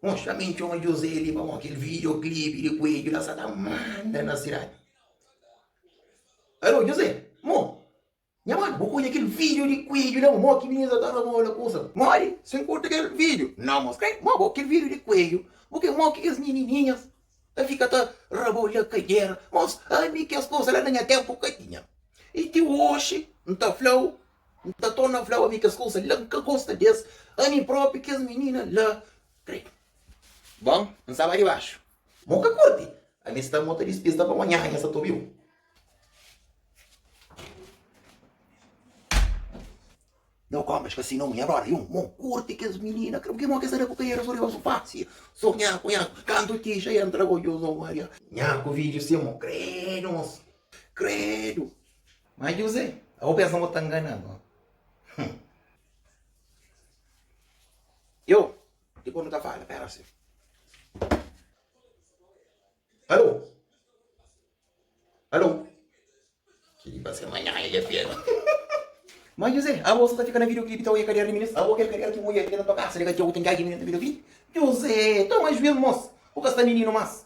Mostra mi txoma José li pa mo kel video clip di kuedju la sa ta manda na sidadi. Alô José, mo, nha mano bu odja kel video di kuedju la mo ki mininu sa ta roba ola kusa. Modi si N kurta kel video? Nau mostra el mo bo kel video di kuedju bu ke mo ki kes minininhas ta fika ta roba ola kajera. Mos ami kes kusa la na nha tempu ka tinha i ti oxi N ta flau N ta torna fla-u, ami kes kusa la N ka gosta di-es, ami propi kes minina la Re. Bon, N staba dibaxu. Bo ka kurti? Ami sta mo ta dispista pa manhan, nha sa ta obi-u. No komes ka si no nha brother, yo mo kurti kes minina kre, pki mo ke sa da ku kariera so riba sofá, si so nha ku nha kantu ti xa entra bo José Maria. Nha ku vidju si mo, kredu, mosu, kredu. Má Juzé, abo pensa ma bo ta ngana-m, ó? Hum! Yo, dipôs nu ta fala. Éra si. Alô? Alô? Kel-li ba ser manhan, el é fiel. Má Juzé, abo sa ta fika na videoclipe ta odja kariera di minis? Abo kel kariera ki bu odja li la na tua kasa, li ka txeu, ten ki algin na menta videoclipe? Juzé, toma juízu, mos! Bu ka sta mininu más.